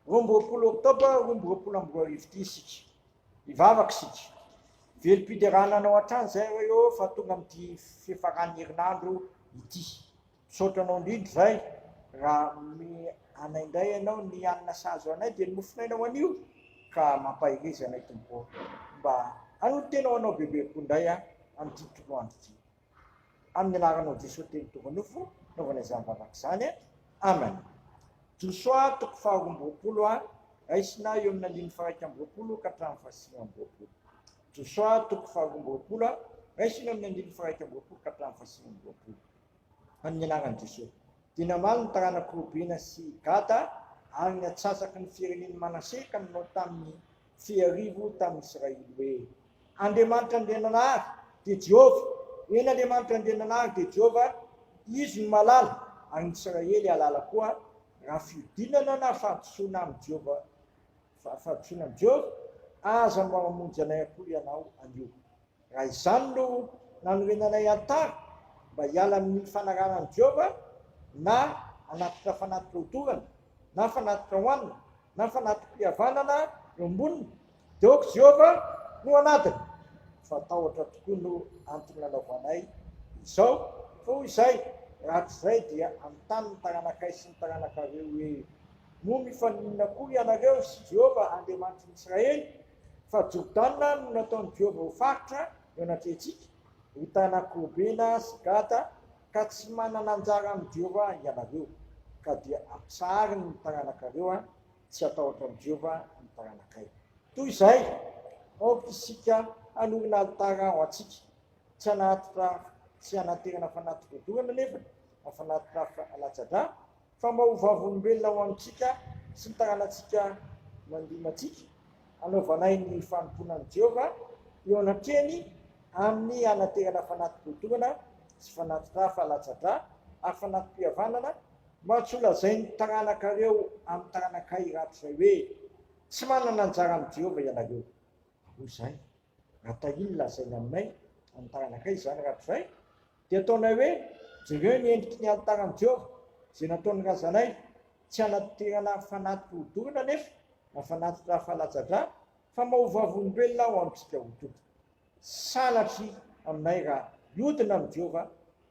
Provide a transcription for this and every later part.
Roa amby roapolo Oktobra roa amby roapolo amby roa arivo ity isika. Hivavaka isika. Velom-piderana anao hatrany izay Ray ô fa tonga amin'ity fiafaran'ny herinandro ity. Misaotra anao indrindra Ray raha hanome anay indray ianao ny hanina sahaza anay dia ny mofon'aina ho anio ka mampahereza anay Tompo ô. Mba hanolo-tena ho anao bebe kokoa indray aho amin'ity toroandro ity. Amin'ny anaranao Jesoa telo tonga nofo naovana izany vavaka izany Amen Josoa toko faha roa amby roapolo a Raisina eo amin'ny andininy faraika amby roapolo ka hatramin'ny fahasivy amby roapolo Josoa toko faha roa amby roapolo a Raisina eo amin'ny andininy faraika amby roapolo ka hatramin'ny fahasivy amby roapolo Amin'ny anaran'i Jesoa dia namaly ny taranak'i Robena sy Gada ary ny atsatsaky ny firenen'i Manase ka nanao tamin'ny Tsy arivo tamin'ny Israely hoe. Andriamanitra Andriananahary dia Jehovah, eny Andriamanitra Andriananahary dia Jehovah, Izy no mahalala, ary ny Israely hahalala koa, raha fiodinana na fahadisoana amin'i Jehovah, fa fahadisoana amin'i Jehovah, aza manamonjy anay akory ianao anio. Raha izany no nanorenanay an-tara mba hiala amin'ny fanarahana an'i Jehovah, na hanatitra fanatitra hodorana, na fanatitra hohanina, na fanatri-pihavanana eo amboniny, dia ok Jehovah no hanadina. Fa tahotra tokoa no antony nanaovanay izao, fa hoy izahay, Raha tsy izay dia hanontany ny taranakay sy ny taranakareo hoe, Moa mifaninona akory ianareo sy Jehovah Andriamanitry ny Israely? Fa Jordana no nataon'i Jehovah ho faritra eo anatrehantsika, ho tanak' Robena sy Gada, ka tsy manana anjara amin'i Jehovah ianareo, ka dia ampisahariny ny taranakareo, tsy hatahotra an'i Jehovah ny taranakay. Toy izay, aoka isika hanorina alitara ho antsika, tsy hanatitra tsy hanaterana fanatitra odorana anefany, na fanatitra latsa-drà, fa mba ho vavolombelona ho antsika sy ny tanànantsika mandihy matsika, anaovanay ny fanompoana an'i Jehovah eo anatrehany amin'ny hanaterana fanati-boatorana sy fanati-dra fa latsa-dra ary fanati-pihavanana, mba tsy holazain'ny taranakareo amin'ny taranakay rahatrizay hoe, Tsy manana anjara amin'i Jehovah ianareo. Hoy izany. Atao inn lazaina aminay amin'ny taranakay izany raha tsy izay dia ataonay hoe jereo ny endriky ny alitaran'i Jehovah izay nataon'ny razanay, tsy hanadirana fanatitra hodorana anefa na fanatitra fahalatsa-dra fa maha vavolombelona ho antsika ho tonta. Sanatria aminay raha hiodina amin'i Jehovah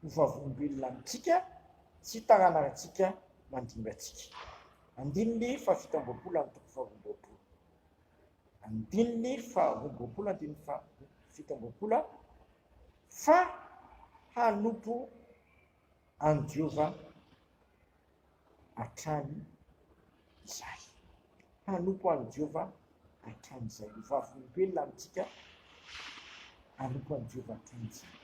ho vavolombelona amintsika sy taranantsika mandimby antsika. Andininy fahafito amby roapolo Andininy faharoa amby roapolo Andininy faharoa amby roapolo Andininy fahafito amby roapolo fa hanompo an'i Jehovah hatrany izahay. Hanompo an'i Jehovah hatrany izahay. Ho vavolombelona amintsika hanompo an'i Jehovah hatrany izahay.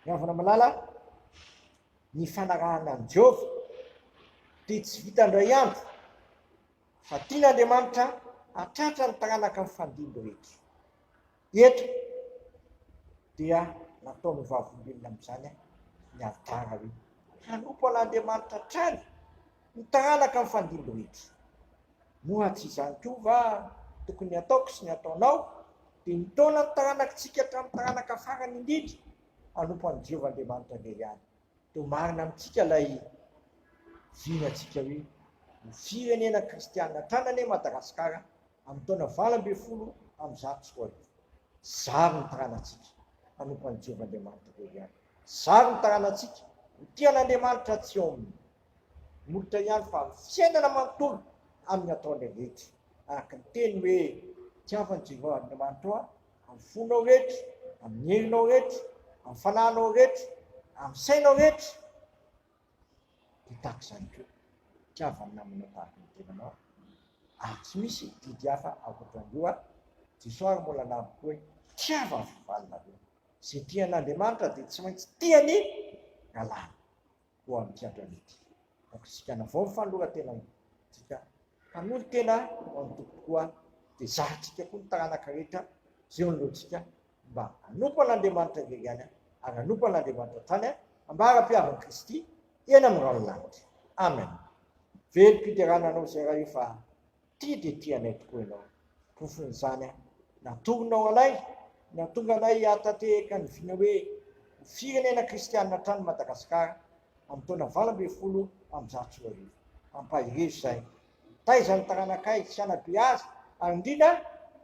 Ry havana malala, ny fanarahana an'i Jehovah dia tsy vita indray andro fa tian'Andriamanitra hatratra ny taranaka mifandimby rehetra. Eto dia nataon'io Vavolombelona amin'izany ny alitara hoe, Hanompo an'Andriamanitra hatrany ny taranaka mifandimby rehetra. Moa tsy izany koa va tokony ny ataoko sy ny ataonao dia mitaona ny taranakitsika hatramin'ny taranaka farany indrindra hanompo an'i Jehovah Andriamanitra indray ihany? Toa marina amintsika ilay vinatsika hoe, Ho firenena kristianina hatrany anie Madagasikara Amin'ny taona valo ambin'ny folo amby zato sy roa arivo, zary ny taranantsika hanompo an'i Jehovah Andriamanitra ireo ihany. Zary ny taranantsika ho tia an'Andriamanitra tsy ao amin'ny molotra ihany fa amin'ny fiainana manontolo amin'ny ataonay rehetra. Araka ny teny hoe, Tiavan'i Jehovah Andriamanitrao aho amin'ny fonao rehetra, amin'ny herinao rehetra, amin'ny fanahinao rehetra, amin'ny sainao rehetra, Dia tahaka izany koa, tiavo ny namana tahaka ny tenanao, ary tsy misy didy hafa ankoatran'io ary Jesoa ary mbola nabo koa hoe, tiavo ny fivalinareo. Izay tia an'Andriamanitra dia tsy maintsy tia ny lalàny. Koa amin'ity androany ity, aoka isika hanavao ny fanoloran-tenantsika hanolo-tena ho an'ny Tompo tokoa, dia zahantsika koa ny taranaka rehetra izay eo anoloantsika Mba hanompo an'Andriamanitra irery ihany aho, ary hanompo an'Andriamanitra hatrany aho, ambara-pihavan'i Kristy eny amin'ny rahon'ny lanitra. Amen. Velom-piderana anao izay Ray o, fa tia dia tia anay tokoa Ianao. Porofon'izany aho. Natoronao anay, nahatonga anay hahatanteheka ny vina hoe ho firenena kristianina hatrany i Madagasikara, amin'ny taona valo ambin'ny folo amby zato sy roa arivo. Ampaherezo izay, Taiza ny taranakay tsy hanabe azy, ary indrindra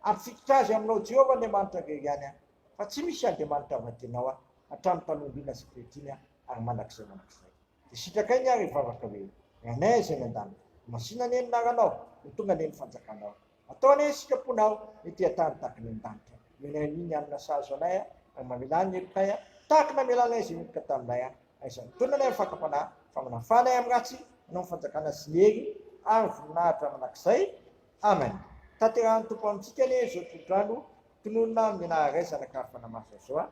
hampifikitra azy aminao Jehovah Andriamanitra irery ihany aho, fa tsy misy andriamanitra vadianao aho, hatramin'ny mpanolo-hina sy kriatina ary mandrakizay mandrakizay. Dia sitrakay ny ahy ry vavaka hoe, Ranay izay any an-danitra, masina anie ny anaranao, ho tonga anie ny fanjakanao. Ataonay ny sitraponao ny tia tany tahaka ny an-danitra Omenay ny ny alina sahazo anay a Ary mamelà ny herotray a Tahaka ny namelanay izay niditra taminay a Aiza ny taona anay mifankampanahy Fa manafà anay amin'ny ratsy Anao ny fanjakana sy ny hery Ary voninahitra mandrakizay Amen Tanterahan'ny Tompo amintsika anie izao tolotr'andro Tononina amin'ny anara iray Zanaka ary Fanahy Masina izao a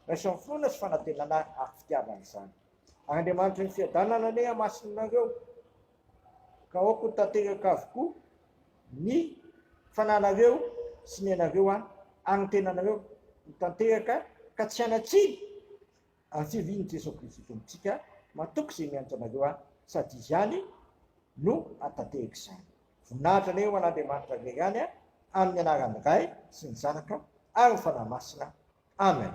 Raiso amin'ny finoana sy fanantenana ary fitiavana izany Ary Andriamanitry ny fiadanana anie hamasinonareo ka aoka ho tanteraka avokoa ny fananareo sy ny anareo an, ary ny tenanareo ho tanteraka ka tsy hanatsiny ary tsy hivin' i Jesoa Kristy Tompontsika matoky izay miantso anareo an, sady Izy ihany no hatanteraka izany. Voninahitra anareo ho an' Andriamanitra irery ihany an, amin' ny anaran' ny Ray sy ny Zanaka ary ny Fanahy Masina. Amen.